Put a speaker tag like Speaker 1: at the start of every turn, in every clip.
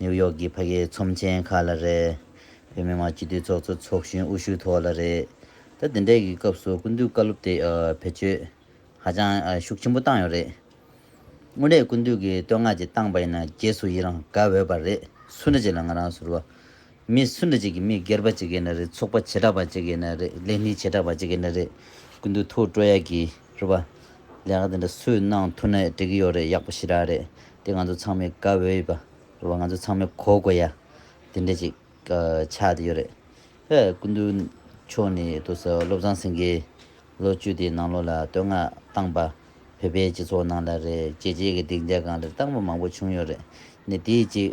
Speaker 1: ནིའུ་ཡོག་གི་ཕ་གི་ཚོམས་ཆེན་ཁག་ལ་རེད། བོད་མི་མང་སྤྱི་འཐུས་ཚོགས་གཙོ་ཚོགས་གཞོན་འུ་ཤུལ་ཐོག་ལ་རེད། ད་དེ་འདྲའི་གི་སྐབས་སུ་སྐུ་མདུན་བཀའ་སློབ་དེ་བེད་སྤྱོད་ཧ་ཅང་ཤུགས་ཆེན་པོ་བཏང་ཡོད་རེད། དངོས་གནས་སྐུ་མདུན་གི་བསྟོད་བསྔགས་ཅིག་བཏང་པ་ཡིན་ན་རྗེས་སུ་ཡི་རང་དགའ་འོས་པ་རེད་སུ་འདྲ་ཅིག་ལ་ང་རང་ཟུར་བ་མི་སུ་འདྲ་ཅིག་གིས་མི་སྒེར་པ་ཅིག་ཡིན་ན་རེད་ཚོགས་པ་བྱེ་བྲག་པ་ཅིག་ཡིན་ན་རེད་ལས་སྣེ་བྱེ་བྲག་པ་ཅིག་ཡིན་ན་རེད་ཀུན་ཏུ་ཐུགས་སྤྲོ་ཡག་གི་རེད་བ། ལས་ཀ་དེ་འདྲ་སུས་གནང་ཐུབ་ན་འགྲིག་གི་ཡོད་རེད་ཡག་པོ་ཞེ་དྲག་རེད་དེ་ང་ཚོ་ཚང་མས་དགའ་འོས་ཡོད་པ་རེད་བ་ང་ཚོ་ཚང་མས་གོ་དགོས་ཡ་དེ་འདྲ་ཅིག་ཆགས་དེ་ཡོད་རེད་བས་ཀུན་ཏུ་མཆོག་ནི་ཏུ་སོ་བློ་བཟང་སེང་གེ་ལོ་བཅུ་དེའི་ནང་ལོ་ལ་བསྟོད་བསྔགས་བཏང་པ། བོད་པའི་སྤྱི་ཚོགས་ནང་ལ་རེད་རྗེས་རྗེས་ཀྱི་སྡིག་འཇགས་གང་ལེར་བཏང་པ་མང་པོ་བྱུང་ཡོད་རེད། ནི་དེའི་གཅིག།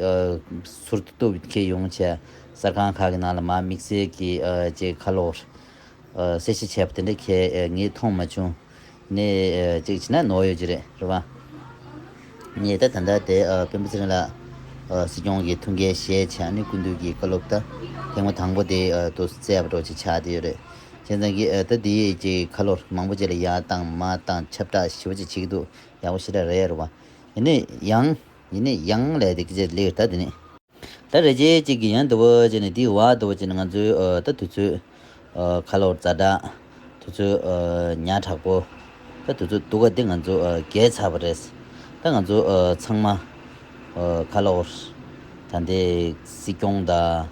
Speaker 1: ཚུར་བསྟོད་མཁས་ཡོང་ཆེད་གསར་ཁང་ཁག་གི་ནང་ལ་མ་དམིགས་བསལ་གྱི་ཅིག་ཁ་ལོ། གསལ་བཤད་བྱས་པ་དེ་འདྲ་ཁྱེད་ངས་མཐོང་མ་བྱུང། ནི། ཅིག་བྱས་ན་ནོར་ཡོད་ཀྱི་རེད་རེད་བ། ནི་ད་ད་ལྟ་དེ་དཔོན་པོ་ཚེ་རིང་ལགས། སྲིད་སྐྱོང་གི་ཐུགས་འགན་བཞེས་ཆེད་ནི་སྐུ་མདུན་གྱི་བཀའ་སློབ་ད་ཐེངས་མ་དང་པོ་དེ་དུ་བསྩལ་བ་འགྲོ་ཆེད་ཆགས་བསྡད་ཡོད་རེད། བྱས་ཙང་གི་ཨ་ད་དེའི་ཀྱི་ཁ་ལོ་མང་པོ་བྱས་ལ་ཡ་དང་མ་དང་ཁྱབ་བསྒྲགས་ཞི་བ་ཅིག་བྱེད་ཀྱི་འདུག་ཡག་པོ་ཞེ་དྲག་རེད་རེད་བ། ཡིན་ནས་ཡང། ཡིན་ནས་ཡང་ལས་དེ་ཀྱི་ཅི་ལེའུ་ད་དེ་ནས། ད་རེ་རྗེས་ཅིག་གི་ཡང་དུ་བ་ཅིག་ནས་དེའི་བ་དུ་བ་ཅིག་ནས་ང་ཚོའི་ཨ་ད་དུས་ཚོད། ཁ་ལོ་རྫ་དྲག། དུས་ཚོད། ཉག་དྲག་པོ། ད་དུས་ཚོད་འདུག་ག་དེ་ང་ཚོ་རྒས་ཚར་བ་རེད། ད་ང་ཚོ་ཚང་མ། ཁ་ལོ། ད་དེ་སྲིད་སྐྱོང་དང།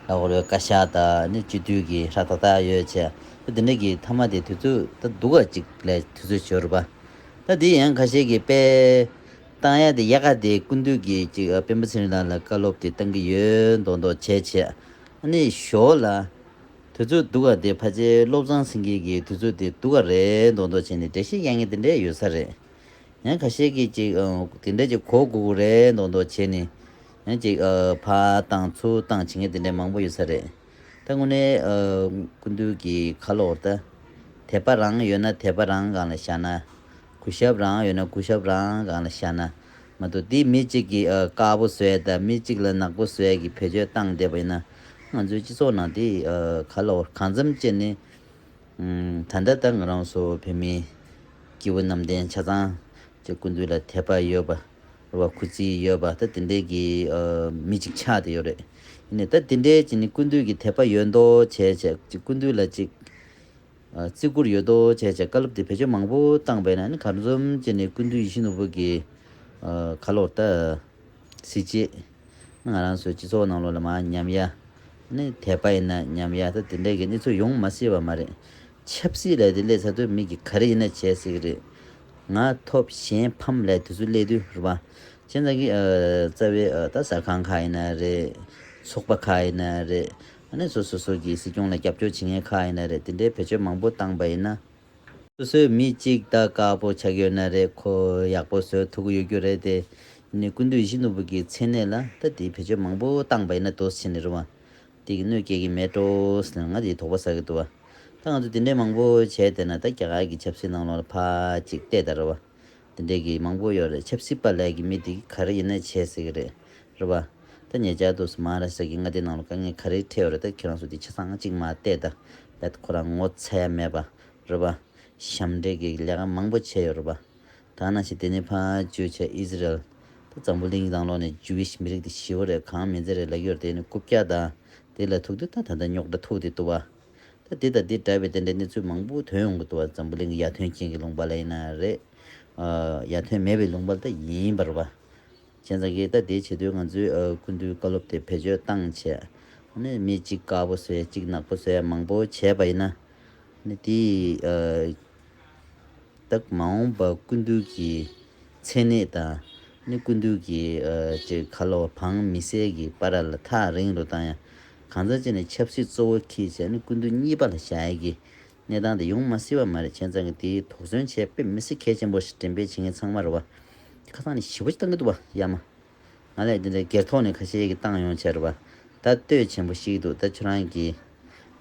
Speaker 1: ལྷོ་རོའི་བཀའ་ཤག་དག་ནི་སྤྱི་མཐུས་ཀྱི་ལྷ་ཐ་དག་ཡོད་ཆེ། ད་འདི་འདྲ་གི་ཐ་མ་དེ་དུས་ཚོད་ད་སྡུག་ག་ཅིག་ལས་དུས་ཚོད་བྱོལ་རུ་པ། ད་འདི་ཡང་ཁ་ཤས་ཀྱི་དཔེ། བཏང་ཡ་དེ་ཡ་ག་དེ་ཀུན་འདུས་ཀྱི་ཅིག་དཔོན་པོ་ཚེ་རིང་ལགས་ལ་བཀའ་སློབ་དེ་བཏང་གི་ཡོད་མདོག་མདོག་བྱས་ཆེ། ནི་ཞོ་ལ། དུས་ཚོད་སྡུག་ག་དེ་ཕ་ཆེ་བློ་བཟང་སེང་གེ་ཀྱི་དུས་ཚོད་དེ་སྡུག་ག་རེད་མདོག་མདོག་བྱས་ནི་འདྲེ་ཤེས་གཡག་ངན་དེ་འདྲས་ཡོད་ས་རེད། ཡང་ཁ་ཤས་ཀྱི་ཅིག་དེ་འདྲས་ཀྱི་གོ་དགོས་གོ་རེད་མདོག་མདོག་བྱས་ནི། ཉིན་གཅིག་ཕ་དང་ཚུ་དང་བྱིངས་དེ་འདྲའི་མང་པོ་ཡོད་ས་རེད། ད་དངོས་གནས་ཀུན་འདུས་ཀྱི་ཁ་ལོ་བོར་ད། དད་པ་རང་ཡོད་ན་དད་པ་རང་སྒང་ལ་བཞག་ན། གུས་ཞབས་རང་ཡོད་ན་གུས་ཞབས་རང་སྒང་ལ་བཞག་ན། མ་འདུག་འདི་མི་གཅིག་གིས་དཀར་པོ་ཟོས་ད་མི་གཅིག་ལ་ནག་པོ་ཟོས་ཀྱི་བེད་སྤྱོད་བཏང་བསྡད་པ་ཡིན་ན། ང་ཚོའི་སྤྱི་ཚོགས་ནང་དེ་ག་ལ་བོར་གང་འཚམ་ཅན་ནི། ད་ལྟ་ད་ང་རང་སོགས་བོད་མི་སྐྱེ་བོ་གནམ་བསྟན་ཆ་ཚང་ཅེས་ཀུན་འདུས་ལ་དད་པ་ཡོད་པ། བ་ཁུ་ཚི་ཡོད་པ་ད་དེ་འདྲས་ཀྱི་མི་ཅིག་ཆགས་བསྡད་ཡོད་རེད་ནི་ད་དེ་འདྲས་ཀྱི་ནི་ཀུན་བཏུས་ཀྱི་དད་པ་ཡོད་མདོ་བྱས་བྱས་ཅིག་ཀུན་བཏུས་ལ་ཅིག་བརྩི་བཀུར་ཡོད་མདོ་བྱས་བྱས་བཀའ་སློབ་དེ་བེད་སྤྱོད་མང་པོ་བཏང་བས་ན་ནི་གར་འཛོམས་ཀྱི་ནི་ཀུན་བཏུས་ཡིད་བཞིན་ནོར་བུ་གི་ཁ་ལོར་ད་སྲིད་ཅེས་ནི་ང་རང་ཚོའི་སྤྱི་ཚོགས་ནང་ལོ་ལ་མ་ཉམས་ཡ་ནི་དད་པ་ཡིན་ན་ཉམས་ཡ་ད་དེ་འདྲས་ཀྱི་གནས་ཚུལ་ཡོང་མ་སྲིད་པ་མ་རེད་ཆབ་སྲིད་ལས་དེ་སླེ་ཚར་དུས་མིག་གིས་ག་རེ་ཡིན་ན་བྱས་སྲིད་གི་རེད། ང་ཐོབ་གཞན་ཕམ་ལས་དེ་ཚོ་སླེ་དུས་རེད་བ། ཁྱེད་ཚང་གི་རྩ་བའི་ད་གསར་ཁང་ཁག་ཡིན་ན་རེད། ཚོགས་པ་ཁག་ཡིན་ན་རེད། ཨ་ནེ་སོ་སོ་སོ་གིས་སྲིད་སྐྱོང་ལ་རྒྱབ་སྐྱོར་བྱེད་མཁན་ཁག་ཡིན་ན་རེད་དེ་འདྲའི་བེད་སྤྱོད་མང་པོ་བཏང་པ་ཡིན་ན། སོ་སོའི་མི་གཅིག་ད་དཀར་པོ་ཆགས་ཡོད་ན་རེད་ཁོ་ཡག་པོ་བཟོས་ཐུག་གི་ཡོད་རྒྱུ་རེད་དེ། ནི་ཀུན་འདུས་བཞི་ནོར་བུ་གི་མཚན་གནས་ལ་ད་དེའི་བེད་སྤྱོད་མང་པོ་བཏང་པ་ཡིན་ན་དོ་སི་ཆེ་ནི་རེད་བ། དེ་གི་གནོད་སྐྱེལ་གི་མེད་འགྲོ་ཟེར་ན་ང་དེ་དོགས་པ་ཟ་གི་འདུག་བ། ད་ང་ཚོ་དེ་འདྲའི་མང་པོ་བྱས་བསྡད་ན་ད་རྒྱ་གར་གི་ཆབ་སྲིད་ནང་ལོག་ལ་ཕ་ཅིག་བལྟས་དང་རེད་བ། དེ་འདྲའི་གི་མང་པོ་ཡོད་རེད་ཆབ་སྲིད་པ་ལས་གི་མི་དེ་གི་ག་རེ་ཡིན་ན་བྱས་ཟེར་གི་རེད་རེད་བ། ད་ཉེ་ཆར་དུ་སྨ་ར་ས་གི་མངའ་སྡེ་ནང་ལོག་དཀའ་ངལ་ག་རེ་འཕྲད་ཡོད་རེད་ད་ཁྱེད་རང་ཚོ་དེ་ཆ་ཚང་ཅིག་མ་བལྟས་དང་རེད་ད་ཁོ་རང་ངོ་ཚ་ཡ་མེད་བ་རེད་བ། ཞབས་འདྲེན་གི་ལས་ཀ་མང་པོ་བྱས་ཡོད་རེད་བ། ཐ་ན་ཕྱི་དེ་ནས་ཕ་ཇོས་ཆ་ཨིས་རལ་དུ་ཙམ་པོ་གླིང་དང་ལོག་ནས Jewish མི་རིགས་དེ་ཞི་བ་རེད་གང་མི་འཛེ་རེད་ལག་གཡོར་དེ་ནི་རྐུབ་བཀྱག་དང་དེ་ལ་ཐུག་དུས་ད་ད་ད་རྙོག་དྲ་ཐུག་དེ་ལྟུ་བ། ད་དེ་དང་དེ་འདྲ་བའི་དེ་འདྲའི་གནས་ཚུལ་མང་པོ་ཐོན་ཡོང་གི་ལྟུ་བ་ཙམ་པོ་གླིང་གི་ཡ་ཐོན་ཅན་གྱི་ལུང་པ་ལ་ཡིན་ན་རེད། ཡ་ཐོན་མེད་པའི་ལུང་པ་ལ་ད་ཡིན་པར་བ། ཁྱེད་ཚང་གི་ལྟ་དེ་བྱེད་དུས་ང་ཚོའི་ཀུན་བཏུས་བཀའ་སློབ་དེ་བེད་སྤྱོད་བཏང་བྱས། མི་གཅིག་དཀར་པོ་བཟོས་གཅིག་ནག་པོ་བཟོས་མང་པོ་བྱས་པ་ཡིན་ན། དེ་ཡི་སྟབས་མ་འོངས་པ་ཀུན་བཏུས་ཀྱི་མཚན་ནད་དང། ཀུན་བཏུས་ཀྱི་ཁ་ལོ་བངས་མི་བསད་ཀྱི་པ་ར་ལ་ཐག་རིང་རུ་བཏང་ཡང། གང་ཟག་ཅིག་ནས་ཆབ་སྲིད་གཙོ་བོ་ཁེལ་བྱས་ཀུན་བཏུས་གཉིས་པ་ལ་བྱ་ཡི་གི་གནས་སྟངས་དེ་ཡོང་མ་སྲིད་བ་མ་རེད་བྱས་ཙང་གི་དེའི་དོགས་ཟོན་བྱས་དཔེ་མི་སྲིད་གལ་ཆེན་པོ་ཞིག་དྲན་པས་བྱེད་མཁན་ཚང་མར་བ་དེ་ཁ་ཐག་ནས་ཞི་བོ་ཅིག་བཏང་གི་འདུག་བ་ཡ་མ་ང་ལས་དེ་འདྲའི་སྒེར་ཐོག་ནས་ཁ་ཤས་ཀྱི་བཏང་ཡོང་བྱས་ར་བ་ད་ལྟོས་ཆེན་པོ་ཤིག་འདུག་ད་ཁྱོད་རང་གི་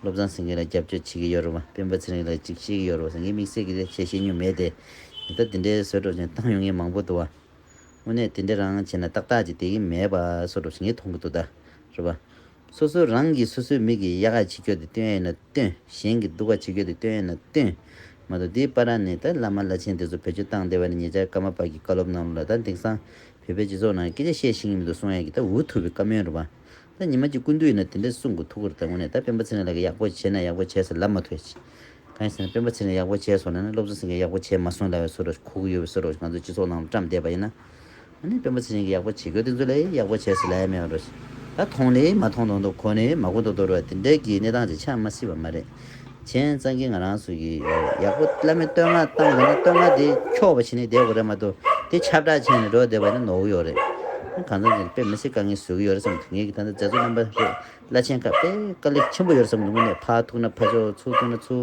Speaker 1: བློ་བཟང་སེང་གེ་ལ་རྒྱབ་སྐྱོར་བྱེད་ཀྱི་ཡོད་ར་བ་སྤེན་པ་ཚེ་རིང་ལ་ཅིག་བཤད་ཀྱི་ཡོད་ར་བ་སེང་གེ་དམིགས་བསལ་གྱི་ལས་བྱེད་ཤེས་མྱོང་མེད་དེ་ད་དེ་འདྲའི་བཟོད་སྒྲོག་ཅན་བཏང་ཡོང་མཁན་མང་པོ་འདུག་བ་དངོས་གནས་དེ་འདྲ་རང་བྱས་ན་ཏག་ཏག་ཅིག་དེ་གི་མེད་བ་བཟོད་སྒྲོག་བྱེད་མཁན་མཐོང་གི་འདུག་ད་ར་བ། སོ་སོ་རང་གིས་སོ་སོའི་མིག་གིས་དབྱར་ཁ་ཕྱི་འཁྱོལ་དུ་སྟོན་ཡོད་ན་སྟོན། གཞན་གྱིས་སྡུག་ཁ་ཕྱི་འཁྱོལ་དུ་སྟོན་ཡོད་ན་སྟོན། མ་གཏོགས་འདིའི་པར་ར་ནས་ད་བླ་མ་བླ་ཆེན་དེ་ཚོ་བོད་ཆུ་བཏང་བསྡད་པ་ནས་ཉེ་ཆར་ཀརྨ་པ་གིས་བཀའ་སློབ་གནང་ལུགས་ལ་ད་དེང་སང་བོད་པའི་སྤྱི་ཚོགས་ནང་སྐད་ཆ་བཤད་ཤེས་ཀྱི་མི་འདུག་གསུང་ཡག་གི་ད་འུ་ཐུག་པའི་བཀའ་མོལ་རེད་བ། ད་ཉི་མ་གཅིག་ཀུན་འདུས་ཡོད་ན་དེ་འདྲ་གསུང་དགོས་ཐུག་གོ་ད་ངོ་ནས་ད་སྤེན་པ་ཚེ་རིང་ལགས་ཀྱིས་ཡག་པོ་བྱས་ན་ཡག་པོ་བྱས་ཟེར་ལབ་མ་ཐུབ་ཡ། གང་ཡིན་ཟེར་ན་སྤེན་པ་ཚེ་རིང་ཡག་པོ་བྱས་སོང་ན་ན་སློབ་གསོ་ཟེར་མཁན་ཡག་པོ་བྱས་མ་སོང་ལ་བའི་སོ་རོ་ཤི་ཁུག་ཡོད་བའི་སོ་རོ་ཤི་ང་ཚོ་སྤྱི་ཚོགས་ནང་དུ་བཀྲམས་བསྡད་པ་ཡིན་ན། ཨ་ནི་དཔོན་པོ་ཚེ་རིང་གིས་ཡག་པོ་བྱེད་དགོས་དེ་ཚོ་ལས་ཡག་པོ་བྱས་ཟེར་ལ་ཡ་མེད་རེད། ད་མཐོང་ནི་མ་མཐོང་དོག་འདུག་གོ་ནི་མ་གོ་འདུག་དོར་བ་དེ་འདྲའི་གི་གནས་སྟངས་ཅིག་ཆགས་མ་སྲིད་པ་མ་རེད། གཞན་གཙང་གིས་ང་རང་སུ་གི་རེད་ཡག་པོ་བླ་མའི་བསྟོད་བསྔགས་བཏང་དགོས་ན་བསྟོད་བསྔགས་དེ་འཁྱོག་པ་བྱེད་ནི་བསྡད་དགོས་རེད་མ་གཏོགས་དེ་ཁྱབ་བསྒྲགས་བྱས་ནས་འགྲོ་བསྡད་པ་ནི་ནོར་བུ་ཡོག་རེད། གང་ཙམ་ཅིག་དཔེ་མི་སྲིད་དཀའ་ངལ་བཟོ་གི་ཡོད་རེད་བསམ་ངེད་ཀྱི་ད་ལྟ་མཛད་གཙོ་རྣམ་པ་རེད་བླ་ཆེན་ཁག་དཔེ་དཀའ་ལས་ཆེན་པོ་ཡོད་རེད་བསམ་དངོས་གནས་ཕ་ཐུག་ན་ཕ་ཆོག་ཚུར་ཐུག་ན་ཚུར།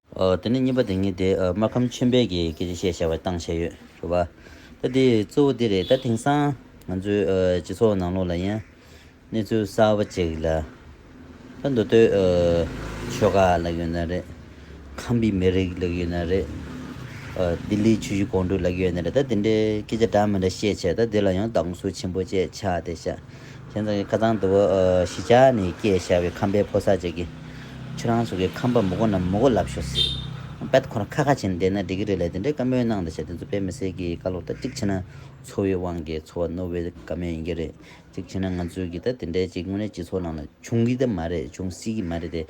Speaker 1: དེ་ནས་གཉིས་པ་དེ་ཉིད་དེ་སྨར་ཁམས་ཆེན་པོའི་གི་སྐད་ཆ་བཤད་བྱ་བ་བཏང་བྱས་ཡོད་ཞུ་བ། ད་དེ་གཙོ་བོ་དེ་རེད་ད་དེང་སང་ང་ཚོའི་སྤྱི་ཚོགས་ནང་ལོགས་ལ་ཡང་གནས་ཚུལ་གསར་བ་ཅིག་ལ་ད་མདོ་སྟོད་ཆོལ་ཁ་ལགས་ཡོད་ན་རེད། ཁམས་པའི་མི་རིགས་ལགས་ཡོད་ན་རེད། ལྡི་ལིའི་ཆོས་གཞུང་གོང་དྲུག་ལགས་ཡོད་ན་རེད་ད་དེ་འདྲའི་སྐད་ཆ་འདྲ་མི་འདྲ་བཤད་བྱས་ད་དེ་ལ་ཡང་སྡང་ཟུག་ཆེན་པོ་བཅས་ཆགས་ཏེ་བྱ། སེམས་ཙམ་གྱི་ཁ་ཚང་དུ་བོ། ཞི་ཆགས་ནི་སྐྱེས་ཞགས་པའི་ཁམས་པའི་ཕོ་སར་བཅས་ཀྱི། ཁྱོད་རང་སོགས་ཀྱི་ཁམས་པ་མུ་གོ་རྣམས་མུ་གོ་ལབ་ཤོག། སྦེད་ཁོ་རང་ཁ་ཁ་བྱས་ནས་བསྡད་ན་འགྲིག་གི་རེད་ལས་དེ་འདྲའི་བཀའ་མོལ་གནང་གདའ་བྱས་དེ་ཚོ་དཔེ་མི་སྲིད་གི་བཀའ་སློབ་ད་གཅིག་བྱས་ན་འཚོ་བའི་དབང་གིས་འཚོ་བ་རྣོ་བའི་བཀའ་མོལ་ཡིན་གྱི་རེད་གཅིག་བྱས་ན་ང་ཚོས་གི་ད་དེ་འདྲའི་གཅིག་དངོས་གནས་སྤྱི་ཚོགས་ནང་ལ་བྱུང་གི་ད་མ་རེད་བྱུང་སྲིད་གི་མ་རེད་དེ་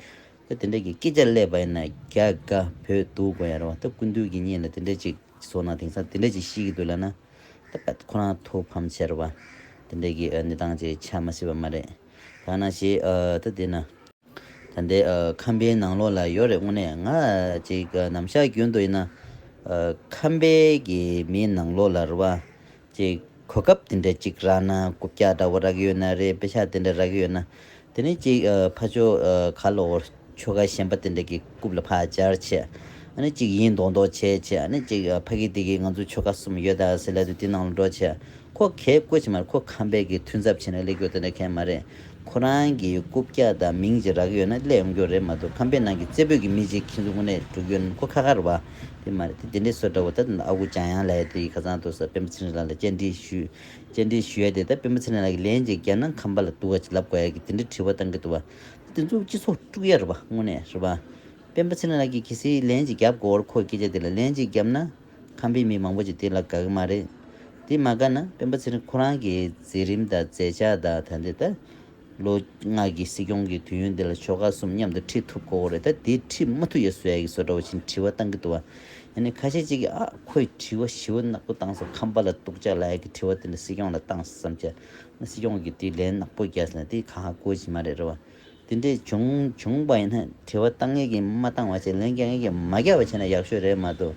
Speaker 1: ད་དེ་འདྲའི་གི་སྐད་ཆ་བསླེབས་པ་ཡིན་ན་རྒྱ་དགའ་བོད་སྡུག་དགོས་ཡ་རོ་ད་ཀུན་འདུས་གི་གཉིས་ལ་དེ་འདྲའི་གཅིག་སྤྱི་ཚོགས་ནང་དེང་སང་དེ་འདྲའི་གཅིག་ཤི་གི་འདུག་ལ་ན། ད་ཕེབས་ཁོ་རང་ཐུགས་ཕམ་ཆེར་བ། དེ་འདྲའི་གི་གནས་སྟངས་ཅིག་ཆགས་མ་སྲིད་པ་མ་རེད། ཐ་ན་ཞེས་ད་དེ་ན། ད་ལྟའི་ཁམས་པའི་ནང་ལོགས་ལ་ཡོད་རེད་དངོས་གནས་ང་ཅིག་ནམ་ཞག་རྒྱུན་དུ་ཡིན་ན། ཁམས་པའི་གི་མིའི་ནང་ལོགས་ལ་རུ་བ་ཅིག་གོ་སྐབས་དེ་འདྲ་ཅིག་རག་ན་རྐུབ་བཀྱག་འདྲ་བོ་རག་གི་ཡོད་ན་རེད་དཔེ་ཆ་དེ་འདྲ་རག་གི་ཡོད་ན་དེ་ནས་གཅིག་ཕ་ཆོ་ག་གློ་བོར་ཆོ་ག་གཞན་པ་དེ་འདྲ་གི་རྐུབ་ལ་ཕག་སྦྱར་བྱས། ཨ་ནི་གཅིག་ཡིན་མདོག་མདོག་བྱས་བྱས་ཨ་ནི་གཅིག་ཕ་གི་དེ་གི་ང་ཚོ་ཆོ་ག་གསུམ་ཡོད་ད་ཟེར་སླད་དུ་དེ་ནང་ལ་འགྲོ་བྱས། ཁོ་གས་བཀོད་བྱས་མ་རེད་ཁོ་ཁམས་པའི་གི་ཐུན་ཚབ་བྱས་ནས་སླེབས་རྒྱུ་དེ་འདྲ་གས་མ་རེད། ཁོ་རང་གི་རྐུབ་སྐྱ་དང་མིང་ཅིག་རག་གི་ཡོད་ན་སླེབས་ཡོང་རྒྱུ་རེད་མ་གཏོགས་ཁམས་པའི་ནང་གི་རྩེ་ཕུད་གི་མི་ཅིག་ཁྱེད་ཚོ་དངོས་གནས་འགྲོ་རྒྱུ་ཡོད་ན་ཁོ་ཁ་ཁར་བ་དེ་མ་རེད་དེ་དེ་འདྲའི་སྲོལ་འདྲ་བོ་ད་ཨ་ཁུ་འཇམ་དབྱངས་ལགས་དེ་གི་ཁ་ཚང་དུ་ས་སྤེན་པ་ཚེ་རིང་ལགས་ལ་བཅར་འདྲི་ཞུས། བཅར་འདྲི་ཞུ་ཡ་དེ་ལྟར་སྤེན་པ་ཚེ་རིང་ལགས་ཀྱིས་ལན་གཅིག་རྒྱ་ནག་ཁམས་པ་ལ་འདུག་ག་ལབ་དགོས་ཡ་གི་དེ་འདྲའི་དྲི་བ་བཏང་གི་འདུག་བ། དེ་ཚོ་སྤྱི་ཚོགས་དཀྲུག་ཡ་རེད་བ་དངོས་གནས་རེད་བ། སྤེན་པ་ཚེ་རིང་ལགས་ཀྱིས་གལ་སྲིད་ལན་གཅིག་རྒྱབ་དགོས་བར་ཁོའི་སྐད་ཆ་དེ་ལ་ལན་གཅིག་རྒྱབ་ན། ཁམས་པའི་མི་མང་པོ་ཅིག་དེ་ལ་དགའ་གི་མ་རེད། དེ་མ་དགའ་ན་སྤེན་པ་ཚེ་རིང་ཁོ་རང་གི་མཛད་རིམ་དང་མཛད་བྱ་དང་ད་འདི་ལྟ། ལོ་ལྔ་གི་སྲིད་སྐྱོང་གི་དུས་ཡུན་འདི་ལ་ཆོལ་ཁ་གསུམ་མཉམ་དུ་ཁྲིད་ཐུབ་ཁོ་རེད་ད་དེ་ཁྲིད་མ་ཐུབ་ཡ་སུ་ཡ་ཡིག་བཟོ་འདྲ་བ་བཞིན་དྲི་བ་བཏང་གི་འདུག་བ་ཡ་ནི་ཁ་ཤས་གཅིག་གིས་ཨ་ཁོས་དྲི་བ་ཞི་བ་ནག་པོ་བཏང་ས་ཁམས་པ་ལ་གཏུག་ཅག་ལ་ཡ་གི་དྲི་བ་འདི་འདྲ་སྲིད་སྐྱོང་ལ་བཏང་ས་བསམ་ཆ་ན་སྲིད་སྐྱོང་གིས་དྲིས་ལན་ནག་པོ་རྒྱག་ས་ན་དེ་ག་ཧ་གོ་བྱེད་མ་རེད་རེད་བ་དེ་འདྲས་བྱུང་བྱུང་བ་ཡིན་ན་དྲི་བ་བཏང་ངེས་ཀྱི་མ་བཏང་བ་བྱེད་ལན་རྒྱག་ངེས་ཀྱི་མ་རྒྱག་བ་བྱེད་ན་ཡག་ཤོས་རེད་མ་གཏོགས་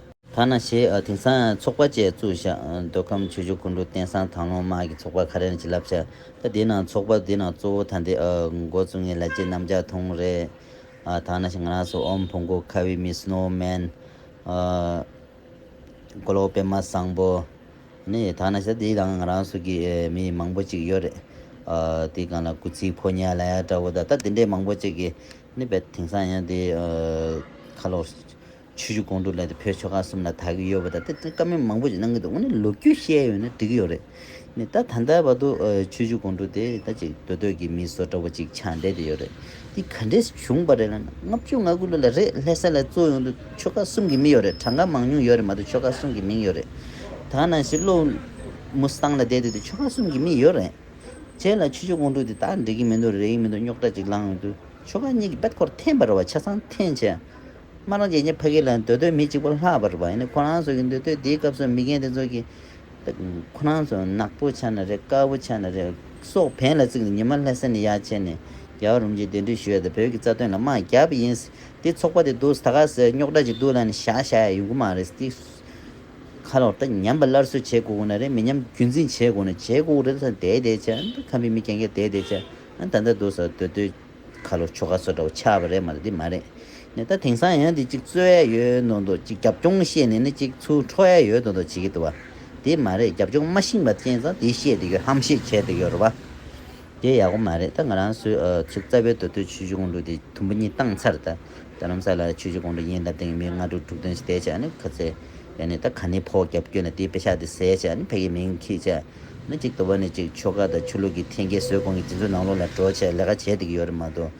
Speaker 1: ཐ་ན་ཞེས་ཨ་དིང་སང་ཚོགས་པ་བཅས་བཙུགས་བཞག་འདོད་ཁམས་ཆོས་འབྱུང་ཀུན་གྲོལ་བསྟན་སྲང་དང་ལོང་དམག་གི་ཚོགས་པ་ཁ་རལ་གྱི་བསླབ་བྱ་ད་དེ་ནང་ཚོགས་པ་དེ་ནང་གཙོ་བོ་ཐ་འདི་ཨ་མགོ་བཙུགས་ངེས་ལ་ཅེས་གནམ་ལྕགས་ཐུང་རེ་ཨ་ཐང་ན་ཞིག་ང་རང་སོ་ཨོམ་བུ་མགོ་ཁ་བའི་མི་སྣོ་མན་ཨ་མགོ་ལོག་པད་མ་བཟང་པོ་ནི་ཐང་ན་ཞིག་ད་དེའི་ནང་ང་རང་སོ་གི་མི་མང་པོ་ཅིག་ཡོད་རེད་ཨ་དེའི་སྒང་ལ་གུ་ཚིག་ཕོ་ཉལ་ལ་ཡ་འདྲ་བོ་ད་ད་དེ་འདྲའི་མང་པོ་ཅིག་གིས་ནི་བད་དིང་སང་ཡང་དེའི་ཁ་ལོག་ཆུ་ཆུ་གོང་དུ་ལས་དེ་བོད་ཆོལ་ཁ་གསུམ་ལ་དག་གི་ཡོད་པ་དང་དེ་ཚོ་ཀ་མེད་མང་པོ་ཞིག་གནང་གི་འདུག་ངོ་ནས་ལོ་རྒྱུས་བཤད་ཡོད་ན་འགྲིག་གི་ཡོད་རེད། ད་ད་ལྟའི་བར་དུ་ཆུ་ཆུ་གོང་དུ་དེ་ད་ཅིག་སྡོད་སྡོད་ཀྱི་མི་བཟོ་འདྲ་བོ་ཅིག་ཆགས་བསྡད་དེ་ཡོད་རེད། འདི་ག་འདྲས་བྱུང་བ་རེད་ལ་ལྔ་བཅུ་ང་དགུ་ལོ་ལ་རེད་ལྷས་ས་ལའི་གཙོ་ཡོང་དུ་ཆོལ་ཁ་གསུམ་གྱི་མི་ཡོད་རེད་གྲངས་ཀ་མང་ཉུང་ཡོད་རེད་མ་གཏོགས་ཆོལ་ཁ་གསུམ་གྱི་མིང་ཡོད་རེད། ད་ནང་བཞིན་བློ་མུ་སྟངས་ལ་བསྡད་དེ་དེ་ཆོལ་ཁ་གསུམ་གྱི་མི་ཡོད་རེད། བྱས་ལ་ཆུ་ཆུ་གོང་དུ་དེ་ད་འགྲིག་གི་མི་འདུག་རེག་གི་མི་འདུག་རྙོག་དྲ་ཅིག་ལངས་འོང་དུ་ཆོལ་ཁ་གཉིས་ཀྱི་དཔལ་འཁོར་འཐེན་པར་བ་ཆ་ཚང་འཐེན་བྱས། སྨྲ་ནོར་རྗེ་ཉིད་ཕ་གི་ལ་འདོད་འདོད་མི་གཅིག་པ་ལྷག་པར་བ་ཡིན་ཁོ་རང་ཚོ་གི་འདོད་འདོད་དེའི་སྐབས་སུ་མི་རྒན་དེ་ཚོ་གི། ཁོ་རང་ཚོ་ནག་པོ་ཆགས་ན་རེད་དཀར་པོ་ཆགས་ན་རེད་སོགས་བན་ལ་བརྩིགས་ནས་ཉི་མ་ལྷ་ས་ནས་ཡར་ཆས་ནས་རྒྱ་གར་རུམ་ཅིག་གདན་འདྲེན་ཞུ་ཡ་དང་བོད་ཀྱི་རྩ་དོན་ལ་དམག་རྒྱག་པ་ཡིན། དེ་ཚོགས་པ་དེ་འདུག་ད་ག་ཟེ་རྙོག་དྲ་ཅིག་འདུག་ལ་ནི་བཞག་བཞག་ཡ་ཡོང་གི་མ་རེད་ཟེར་ཏིག། ཁ་ལོག་ད་ཉམས་པ་སླར་གསོ་བྱེད་དགོས་གོ་ན་རེད་མི་ཉམས་རྒྱུན་འཛིན་བྱེད་དགོས་ན་བྱེད་དགོས་གོ་རེད་ད་ད་བྱ། ཁམས་པའི་མི་རྒན་རྒན་ད་ད་བྱ། ཨ་ད་ད་འདུག་ཟེར་འདོད་འདོད། ཁ་ལོ་ཆོ་ག་སོགས་འདྲ་བོ་ཆགས་པ་རེད་མ་རེད་འདི་མ་རེད་ནས་ད་དེང་སང་ཡང་འདི་གཅིག་རྩོད་ཡས་ཡོད་འདུག་འདུག་གཅིག་རྒྱབ་སྐྱོང་བཤད་ནས་ནི་གཅིག་ཚུར་འཕྲོག་ཡས་ཡོད་འདུག་འདུག་བྱེད་ཀྱི་འདུག་བ་དེ་མ་རེད་རྒྱབ་སྐྱོང་མ་ཤིང་པ་ཅན་ཚང་དེ་བཤད་དེ་ཡོད་ཧམ་བཤད་བྱས་དེ་ཡོད་རེད་བ་དེ་ཡག་པོ་མ་རེད་ད་ང་རང་སུ་ཚུགས་རྩ་བའི་དོ་དོད་ཆོས་བྱུས་གོང་དྲུག་དེ་དུམ་བུ་གཉིས་བཏང་ཚར་ད་ད་རུང་ས་ལ་ཆོས་བྱུས་གོང་དྲུག་ཡིན་ད་དེང་གི་མི་ལྔ་དྲུག་དྲུག་བདུན་ཞེས་བསྡད་བྱས་ནི་ག་ཚད་ཡ་ནི་ད་ག་ནི་ཕོག་རྒྱབ་སྐྱོད་ནི་དེ་དཔེ་ཆགས་དེ་ཟས་བྱས་ནི་ཕལ་གྱི་མིང་ཁྱི་བྱས། ན་གཅིག་ལྟོ་བ་ནས་གཅིག་ཆོལ་ཁ་དང་ཆོས་ལུགས་ཀྱི་ཐེན་སྐྱེད་ཟོས་གོང་གི་འཛིན་བཟུང་ནང་ལོག་ལ་འགྲོ་བྱས་ལས་ཀ་བྱས་བསྡད་ཀྱི་ཡོད་རེད་མ་གཏོགས།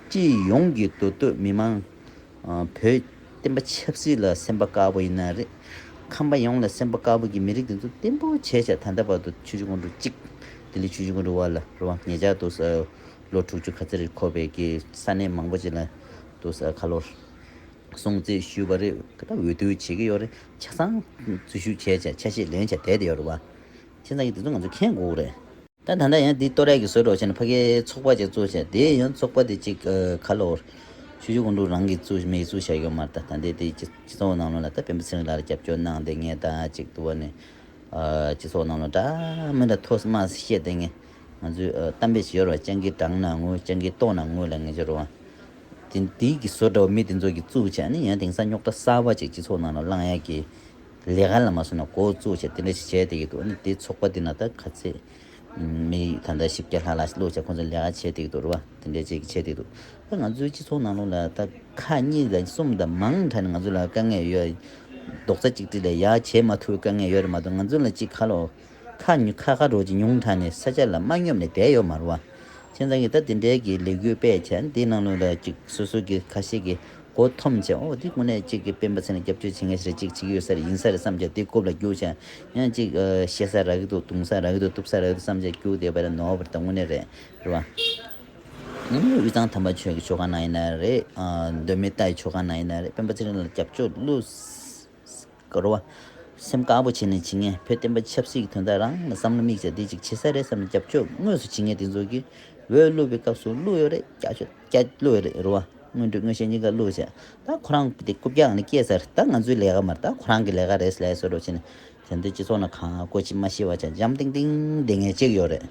Speaker 1: སྤྱི་ཡོངས་ཀྱི་མདོ་སྟོད་མི་མང། བོད་བསྟན་པ་ཆབ་སྲིད་ལ་སེམས་པ་དཀར་པོ་ཡིན་ན་རེད། ཁམས་པ་ཡོངས་ལ་སེམས་པ་དཀར་པོ་གྱི་མི་རིགས་འདི་ཚོ་བརྟན་པོ་བྱས་བྱས་ད་ལྟ་བར་དུ་ཆུ་བྱི་ཁོང་ཁྲོ་གཅིག། ལྡི་ལི་ཆུ་བྱི་ཁོང་ཁྲོ་བ་ལ་རུ་བ་ངེད་ཅག་འདུག་ས་ལོ་དྲུག་ཅུ་ག་ཚེ་རེར་ཁོ་བོས་ཀྱི་ས་གནས་མང་པོ་ཅིག་ལ་འདུག་ས་ཁ་ལོ། སྲུང་བརྩི་ཞུས་པ་རེད་ག་ད་འོས་བསྡུ་བྱེད་ཀྱི་ཡོད་རེད་ཆ་ཚང་འཛུལ་ཞུགས་བྱས་ཆ་ཆ་ཤེས་ལོན་ཆ་བསྡད་དེ་ཡོད་རེད་བ། ཁྱེད་ཚང་གིས་དེ་ཚོ་ང་ཚོ་མཁྱེན་དགོས་རེད། ད་ད་ལྟ་ཡང་འདི་ལྟོ་རས་ཀྱི་ཟོལ་སྒྲོག་བྱས་ནས་ཕ་གིའི་ཚོགས་པ་ཅིག་བཙུགས་བྱས་དེ་ཡང་ཚོགས་པ་དེ་ཅིག་ཁ་ལོ། ཆུ་ཆུ་ཁུང་ཁྲུང་རང་གིས་བཙུགས་མེད་བཙུགས་བྱས་ཡོད་མ་རེད་ད་ད་འདི་དེ་སྤྱི་ཚོགས་ནང་ལོ་ལ་ད་བེམ་པོ་ཚེ་རིང་ལགས་ལ་རྒྱབ་སྐྱོར་གནང་དེ་ངས་ད་ཅིག་ཏུ་བ་ནས། སྤྱི་ཚོགས་ནང་ལོ་འདྲ་མི་འདྲ་མཐོ་དམའ་བཤད་དེ་ངས། ང་ཚོས་གཏམ་དཔེ་ཞིག་ཡོད་རེད་བ། སྤྱང་ཀིའི་བྲང་ན་དངུལ་སྤྱང་ཀིའི་ལྟོ་ན་དངུལ་ལ་ངེས་འབྱོར་བ། དེ་དེའི་གི་བཟོ་འདྲ་བ་མི་དེ་ཚོ་གི་གཙུག་བྱས་ནི་ཡང་དེང་སང་རྙོག་དྲ་གསར་བ་ཅིག་སྤྱི་ཚོགས་ནང་ལ་བསླངས་ཡ་གི། ལས་ཀ་ལ་མ་སོན་ན་གོ་གཙུག་བྱས་དེ་འདྲ་ཞིག་བྱས་དེ་གི་འདུག་ནི་དེ་ཚོགས་པ་དེ་ན་ད་ག་ཚད་མི་ད་ལྟ་བཞི་བརྒྱ་ལྷག་ལ་ལུག་བྱས་ཁོང་ཚོ་ལས་ཀ་བྱས་དེ་གི་འདུག་རེད་བ་དེ་འདྲ་བྱས་གི་བྱས་དེ་གི་འདུག་ད་ང་ཚོའི་སྤྱི་ཚོགས་ནང་ལུག་ལ་ད་ཁ་གཉིས་དང་གསུམ་དང་མང་དྲགས་ནི་ང་ཚོ་ལ་དཀའ་ངལ་ཡོད་རེད། རྡོག་རྩ་གཅིག་སྒྲིལ་ལས་ཡག་བྱས་མ་ཐུབ་བའི་དཀའ་ངལ་ཡོད་རེད་མ་གཏོགས་ང་ཚོ་ལ་ཅིག་ཁ་ལོ། ཁ་ཉུལ་ཁ་ཁ་རོགས་ཀྱི་ཉུང་མཐའ་ནས་ས་ཆ་ལ་མ་སྙོབ་ནས་བསྡད་ཡོད་མར་བ། ཁྱེད་ཚང་གིས་ད་དེ་འདྲའི་གི་ལས་འགུལ་སྤེལ་ཆ་འདི་གནང་ལུང་ལ་ཅིག་སོ་སོ་གི་ཁ་ཤས་གི་གོ་ཐོམ་ཆ་འོ་འདི་ཀུ་ནས་ཅིག་གི་སྤེན་པ་ཚེ་ན་རྒྱབ་སྐྱོར་བྱེད་མཁན་ཞིག་རེད་ཅིག་ཅིག་ཡོད་ས་རེད་ཡིན་ས་རེད་བསམ་ཆ་འདི་རྐུབ་ལ་རྒྱུག་ཆ་ཡང་ཅིག་བཤད་ས་རག་གི་འདུག་བརྡུང་ས་རག་གི་འདུག་གཏུབ་ས་རག་གི་འདུག་བསམ་ཆ་རྒྱུག་བསྡད་པ་རེད་ནོ་བར་ད་དངོས་གནས་རེད་རེད་བ། ཉིན་མོའི་དབུས་གཙང་དམ་པ་ཆོས་ཀྱི་ཆོ་ག་གནང་ཡིན་ན་རེད། གདོད་མའི་རྟ་ཡི་ཆོ་ག་གནང་ཡིན་ན་རེད་སྤེན་པ་ཚེ་རིང་ལ་རྒྱབ་སྐྱོར་བསླུ། འགོར་བ། སེམས་དཀར་པོ་བྱས་ནས་ཇི་སྙེད་བོད་བསྟན་པ་ཆབ་སྲིད་ཀྱི་དོན་དག་རང་ལ་བསམ་བློ་དམིགས་བྱ་བདེ་ཅིག་བྱེད་ས་རེད་བསམ་ནས་རྒྱབ་ཕྱོགས་ངོས་སུ་ཇི་སྙེད་བདེ་འཛུགས་ཀྱིས་འོས་བླུགས་པའི་སྐབས་སུ་བླུགས་ཡོད་རེད་སྐྱ་ཆོས་སྐྱ་བླུགས་ཡོད་རེད་རུ་བ་དངོས་འབྲུ་དངོས་ཤེས་གཉིས་ཀ་བླུགས་བྱས་ད་ཁོ་རང་དེ་རྐུབ་བཀྱག་ནས་སྐྱེས་ཚར་ད་ང་ཚོའི་ལས་ཀ་མར་ད་ཁོ་རང་གི་ལས་ཀ་རེད་ལས་སོ་རུ་བྱས་ནས་དེ་འདི་སྤྱི་ཚོགས་ནང་གང་དགོས་ཅི་མ་ཤེས་བ་ཆ་འཇམ་ཏིང་ཏིང་བསྡད་ངེས་ཅིག་ཡོད་རེད་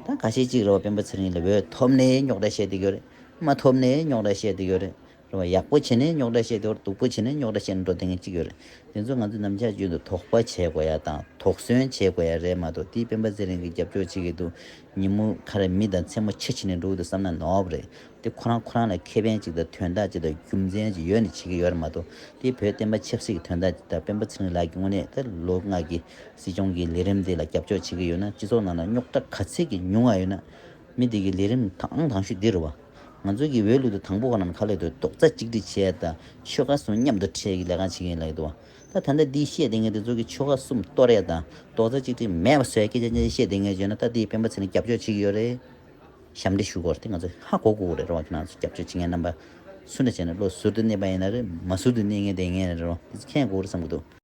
Speaker 1: ད་ག་ཤེད་ཅིག་རུ་བ་དཔོན་པོ་ཚེ་རིང་ལ་འོས་ཐོབ་ནས་རྙོག་དྲ་བཤད་དེ་ཡོད་རེད་མ་ཐོབ་ནས་རྙོག་དྲ་བཤད་དེ་ཡོད་རེད་རེད་བ། ཡག་པོ་བྱས་ནས་རྙོག་དྲ་བཤད་དེ་བར་སྡུག་པོ་བྱས་ནས་རྙོག་དྲ་བཤད་ནས་འགྲོ་དེ་ངན་གཅིག་ཡོད་རེད། དེ་ཚོ་ང་ཚོས་ནམ་ཆགས་བརྗོད་འདུག་དོགས་པ་བྱེད་དགོས་ཡ་དང་དོགས་ཟོན་བྱེད་དགོས་ཡ་རེད་མ་གཏོགས་དེའི་སྤེན་པ་ཚེ་རིང་གི་རྒྱབ་སྐྱོར་བྱེད་ཀྱི་འདུག་ཉིན་མོ་ཁ་རེ་མི་དང་མཚན་མོ་ཁྱི་བྱེད་ནས་འགྲོ་གི་འདུག་བསམ་ན་ནོབ་རེད་དེ་ཁོ་རང་ཁོ་རང་ལ་ཁེ་ཕན་ཅིག་དང་དོན་དག་ཅིག་དང་རྒྱུ་མཚན་ཅིག་ཡོད་ནས་བྱེད་ཀྱི་ཡོད་རེད་མ་གཏོགས་དེ་བོད་བསྟན་པ་ཆབ་སྲིད་ཀྱི་དོན་དག་ཅིག་དང་སྤེན་པ་ཚེ་རིང་ལགས་ཀྱི་དངོས་གནས་ད་ལོ་སྔགས་ཀྱི་སྲིད་སྐྱོང་གི་ལས་རིམ་དེ་ལ་རྒྱབ་སྐྱོར་བྱེད་ཀྱི་ཡོད་ན་སྤྱི་ཚོགས་ནང་ལ་རྙོག་དྲ་ག་ཚད་ཀྱི་ཉུང་བ་ཡོད་ན་མི་དེ་གི་ལས་རིམ་དང་དང་ཤོས་འདི་རེད་བ། ང་ཚོ་གིས་འོས་བླུག་ཏུ་དང་པོ་བ་རྣམས་ཁ་ལེགས་དོད་ཏོག་རྩ་གཅིག་སྒྲིལ་བྱས་ད་ཆོལ་ཁ་གསུམ་མཉམ་དུ་ཁྲལ་གྱི་ལས་ཀ་བྱེད་མཁན་ཡིན་ལགས་འདུག་ད་ད་ལྟ་འདི་བཤད་དེ་ངས་འདི་ཚོ་གི་ཆོལ་ཁ་གསུམ་ལྟོ་རས་དང་ཏོག་རྩ་གཅིག་སྒྲིལ་མེད་པ་ཟོས་སྐད་ཆ་ཅན་ཅན་བཤད་དེ་ངས་བརྗོད་ན་ད་འདིའི་སྤེན་པ་ཚེ་རིང་རྒྱབ་སྐྱོར་བྱེད་ཀྱི་ཡོད་རེད་ཞབས་འདྲི་ཞུ་དགོས་རེད་ང་ཚོ་ཧ་གོ་གོ་རེད་རོ་ཁྱེད་རང་ཚོ་རྒྱབ་སྐྱོར་བྱེད་མཁན་རྣམ་པ་སུ་འདྲ་བྱས་ནས་བློ་ཟུར་དུ་གནས་པ་ཡིན་ན་རེད་མ་ཟུར་དུ་གནས་མཁན་དེ་ངས་རེད་རོ་འདི་ཚོ་མཁྱེན་གོ་རེད་བསམ་གྱི་འདུག།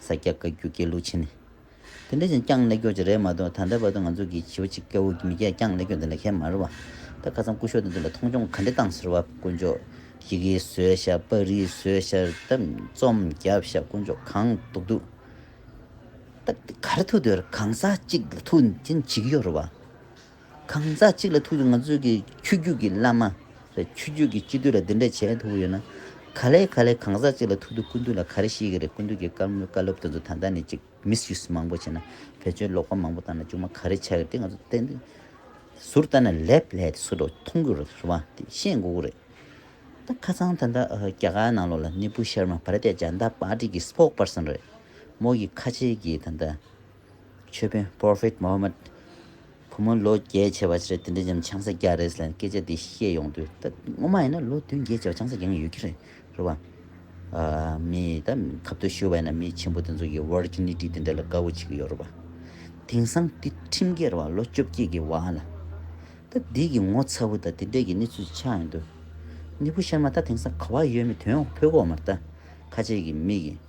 Speaker 1: ས་སྐྱ་བཀའ་བརྒྱུད་དགེ་ལུགས་ཆེན། དེ་འདྲ་ཞིག་བསྐྱངས་ལེགས་འགྱུར་ཅིག་རེད་མ་གཏོགས་ད་ལྟ་བར་དུ་ང་ཚོ་གིས་བྱིས་པ་གཅིག་སྐྱ་བོ་མི་སྐྱ་བསྐྱངས་ལེགས་འགྱུར་འདི་འདྲ་ཁེ་མ་རེད་བ། ད་ཁ་སང་སྐུ་ཞོགས་དེ་ཚོ་ལ་མཐོང་ཆུང་ག་འདྲེ་བཏང་ཟེར་བ་དཀོན་མཆོག་ཡི་གེ་བཟོས་ཤག་པ་རིས་བཟོས་ཤག་རྩམ་རྩོམ་བརྒྱབ་ཤག་དཀོན་མཆོག་གང་འདུག་འདུག་ད་ག་རེ་ཐུག་འདོད་རེད་གང་ཟག་གཅིག་ལ་ཐུག་འདི་འདྲ་བྱེད་ཀྱི་ཡོད་རེད་བ། གང་ཟག་གཅིག་ལ་ཐུག་ཡོད་ང་ཚོས་ཀྱི་ཆོས་རྒྱུད་ཀྱི་བླ་མ། རེད་ཆོས་རྒྱུད་ཀྱི་སྤྱི་འཐུས་ལ་འདི་འདྲ་བྱས་ཐུག་ཡོད་ན། ག་ལེ་ག་ལེ་གང་ཟག་གཅིག་ལ་ཐུག་དུས་སྐུ་མདུན་ལ་ག་རེ་ཤེས་ཀྱི་རེད་སྐུ་མདུན་གྱི་བཀའ་མོལ་བཀའ་སློབ་དེ་ཚོ་ད་ལྟ་ནས་ཅིག་མིས་ཡུས་མང་པོ་བྱས་ན་བོད་ཆོས་ལོག་པ་མང་པོ་དང་ལ་ཅུང་མ་ག་རེ་ཆགས་ཀྱི་རེད་དེ་ང་ཚོ་བསྟན་དུས་ཟུར་ལྟ་ན་ལེབ་ལྷས་དེ་ཚོ་ལོ་མཐོང་གི་རེད་བ་དེ་ཤེས་དགོས་ཀྱི་རེད། ད་ཁ་ཚང་ད་ལྟ་རྒྱ་གར་ནང་ལོག་ལ་གནས་སྤུ་ཤར་མ་བར་ཏེ་ལྗང་མདའ་པར་ཏི་གི་སྤོགས་པར་སོན་རེད་མོ་གི་ཁ་ཆེ་གི་ད་ལྟ་ཆོས་དཔོན Prophet Muhammad བུ་མོ་ལོ་བརྒྱད་བྱས་པ་ཕྱིར་དེ་འདྲའི་འཇམ་ཆང་ས་རྒྱག་རེད་ཟེར་ནས་སྐད་ཆ་འདི་བཤད་ཡོང་དུས་ད་སྔོན་མ་ཡིན་ན་ལོ་བདུན་བརྒྱད་བྱས་པ་ཆང་ས་རྒྱག་ངེས་ཡོད་ཀྱི་རེད་རེད་བ། མི་ད་གབ་ཏུ་ཤོར་བ་ཡིན་ན་མི་ཆེན་པོ་དེ་ཚོ་ཡི Virginity དེ་འདྲ་ལ་དགའ་བོ་བྱེད་ཀྱི་ཡོད་རེད་བ། དེང་སང་དེ་ཁྲིམས་འགལ་རེད་བ་ལོ་བཅོ་བརྒྱད་ཀྱི་བ་ལ། ད་འདི་གི་ངོ་ཚ་བོ་ད་དེ་འདྲའི་གི་གནས་ཚུལ་ཆགས་ཡོང་དུས། གནས་བུ་ཤར་མ་ད་དེང་སང་ག་བ་ཡོད་མེད་དོན་འོག་འཕོས་གོ་མ་ད་ཁ་ཆེ་གི་མི་གི།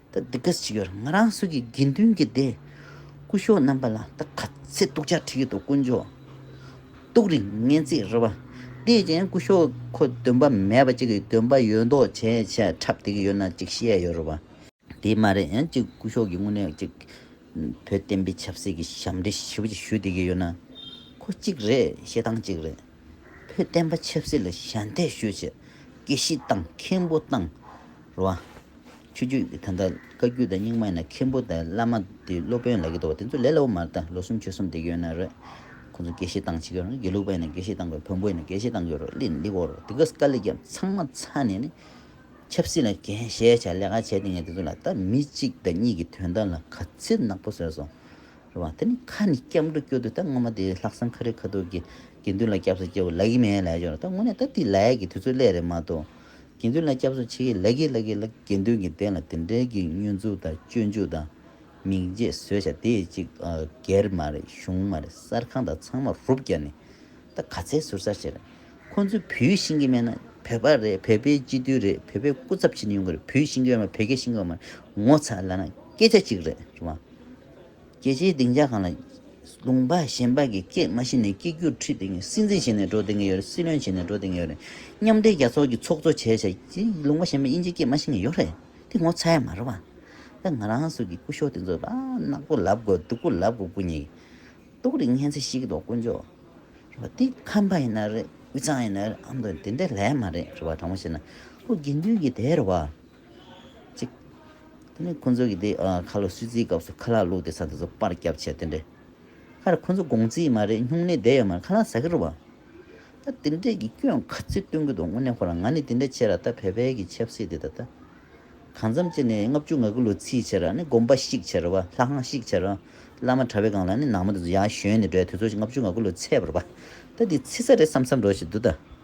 Speaker 1: ད་འདི་ག་ཞིག་ཡོད་ང་རང་སུ་གི་དགེ་འདུན་གྱི་སྡེ། སྐུ་གཞོགས་རྣམ་པ་ལ་ད་ག་ཚེ་སྟུག་ཆ་ཁྲི་ཡོད་དོ་དཀོན་མཆོག། སྟུག་རིང་སྙན་ཚིག་རི་བ། བལྟས་རྐྱེན་སྐུ་གཞོགས་ཁོ་འདོན་པ་མེད་པ་ཅིག་གི་འདོན་པ་ཡོད་མདོག་བྱས་བྱས་འཁྲབ་བསྡད་ཀྱི་ཡོད་ན་ཅིག་བཤད་ཡོད་རི་བ། དེ་མ་རེད་ཡང་ཅིག་སྐུ་གཞོགས་ཀྱི་དངོས་གནས་ཅིག་བོད་བསྟན་པའི་ཆབ་སྲིད་ཀྱི་ཞབས་འདྲེ་ཞིབ་ཅིག་ཞུས་བསྡད་ཀྱི་ཡོད་ན་ཁོ་ཅིག་རེད་བཤད་སྟངས་ཅིག་རེད། བོད་བསྟན་པ་ཆབ་སྲིད་ལ་ཞལ་འདེབས་ཞུ་ཆེད་དགེ་བཤེས་དང་མཁན་པོ་བཏང་བ། ཆོས་རྒྱུད་ཀྱི་ད་ལྟ་བཀའ་རྒྱུད་དང་རྙིང་མ་ཡིན་ན་མཁན་པོ་དང་བླ་མ་དེ་སློབ་དཔོན་ལག་གི་འདུག་བ་དེ་ཚོ་ལས་སླ་བོ་མ་རེད་ད་ལོ་གསུམ་ཆོས་གསུམ་དེ་གྱོན་ན་རེད། ཁོང་ཚོ་དགེ་བཤེས་བཏང་ཆེད་ཀྱང་རེད་དགེ་ལུགས་པ་ཡིན་ན་དགེ་བཤེས་བཏང་དགོས་བོན་པོ་ཡིན་ན་དགེ་བཤེས་བཏང་དགོས་རོ་ལི་ལི་བོ་རོ་དེ་གས་དཀའ་ལས་ཀྱང་ཚང་མ་ཚ་ནས་ནི། ཆབ་སྲིད་ལ་གན་བཞེས་བྱ་ལས་ཀ་བྱས་དེ་ངས་དེ་ཚོ་ལ་ད་མི་གཅིག་དང་གཉིས་ཀྱི་དོན་དག་ལ་ག་ཚིལ་ནག་པོ་ཟེར་སོང། རེད་བ། དེ་ནི་ཁ་ནས་སྐྱབས་འགྲོ་སྐྱོ་དུས་ད་སྔོན་མ་དེ་ལྷག་བསམ་ཁ་རི་ཁ་ཐུག་གིས་དགེ་འདུན་ལ་སྐྱབས་སུ་སྐྱེ་བོ་ལག་གིས་མེད་ལས་བྱུང་རེད་ད་དངོས་གནས་ད་དེ་ལས་ཀྱི་དུས་ཚོད་སླད་རེད་མ་གཏོགས། དགེ་འདུན་ལ་སྐྱབས་སུ་ཆེ་གི་ལག་གིས་ལག་གིས་ལག་དགེ་འདུན་གྱི་གདན་ལ་དེ་འདྲའི་གི་བསྙོན་འཛུགས་དང་སྤྱོད་འཇུག་དང། མིང་རྗེས་བཟོས་བྱ་དེ་གཅིག་སྒེར་མ་རེད་གཞུང་མ་རེད་གསར་ཁང་དང་ཚང་མ་རུབ་རྒྱག་ནས་ད་ག་ཚད་ཟུར་ཟ་བྱས་རེད། ཁོང་ཚོས་བོད་ཡིག་ཤེས་ཀྱི་མེད་ན་བོད་པ་རེད་བོད་པའི་སྤྱི་འཐུས་རེད་བོད་པའི་སྐུ་ཚབ་བྱས་ནས་ཡོང་གི་རེད་བོད་ཡིག་ཤེས་ཀྱི་ཡོད་མ་རེད་ངོ་ཚ་ལ་ན་སྐད་ཆ་གཅིག་རེད་བ། རྒྱལ་སྤྱིའི་སྡིངས་ཆ་གང་ལ། ལུང་པ་གཞན་པ་གིས་སྐད་མ་ཤེས་ནས་སྐད་སྒྱུར་ཁྲིད་དེ་སྲིད་འཛིན་བྱས་ནས་འགྲོ་བསྡད་ཀྱི་ཡོད་རེད་སྲིད་བློན་བྱས་ནས་འགྲོ་བསྡད་ཀྱི་ཡོད་རེད། མཉམ་འབྲེལ་རྒྱལ་ཚོགས་ཀྱི་ཚོགས་གཙོ་བྱས་བྱས་ཀྱི་ལུང་པ་གཞན་པས་དབྱིན་ཇིའི་སྐད་མ་ཤེས་ཀྱི་ཡོད་རེད་དེ་ངོ་ཚ་ཡ་མ་རེད་བ། ད་ང་རང་ཚོ་གི་སྐུ་ཞོགས་དེ་ཚོ་ནག་པོ་ལབ་དགོས་སྡུག་པོ་ལབ་དགོས་སྐུ་ཉིད་ཏོག་རིགས་སྙན་ཚིག་ཤིག་གི་ཐོག་དཀོན་ཅོག་རེད་བ་དེ་ཁམས་པ་ཡིན་ན་རེད་དབུས་གཙང་ཡིན་ན་རེད་ཨ་མདོ་ཡིན་དེ་འདྲ་ལས་མ་རེད་རེད་བ་དྲང་མོ་བཤད་ན་ཁོ་དགེ་འདུན་གྱི་དེ་རེད་བ། ཅིག། དེ་ནས་ཁོ་ཚོ་གིས་དེ་ཁ་ལོ་སུས་བརྩིའི་སྐབས་སུ་ཁ་ལག་བླུགས་ཏེ་ས་དེ་ཚོ་པར་བརྒྱབ་བྱས་དེ་འདྲས། ཁ་རེ་ཁོ་ཚོ་དགོང་རྩིས་མ་རེད་སྨྱུང་གནས་བསྡད་ཡོད་མ་རེད་ཁ་ལག་ཟ་གི་རུ་བ། ད་དེ་འདྲས་ཀྱི་སྐྱོན་ག་ཚོད་སྟོན་གི་འདུག་དངོས་གནས་ཁོ་རང་ང་ནི་དེ་འདྲས་བྱས་ར་ད་བལ་བལ་གྱི་ཆབ་སྲིད་དེ་ད་ད། གང་འཚམ་བྱས་ནས་ལྔ་བཅུ་ང་གི་ལོ་རྩིས་བྱས་ར་ནི་དགོན་པ་ཤིག་བྱས་རུ་བ་ལྷ་ཁང་ཤིག་བྱས་རུ་བ་བླ་མ་གྲྭ་བའི་སྒང་ལ་ནི་ནང་མི་དེ་ཚོ་ཡར་བཞོན་ནས་འགྲོ་ཡ་དེ་ཚོ་ལྔ་བཅུ་ང་གི་ལོ་ཚད་བར་བ། ད་འདི་རྩིས་ས་རེད་བསམ་བསམ་འགྲོ་བྱས་འདུག་ད།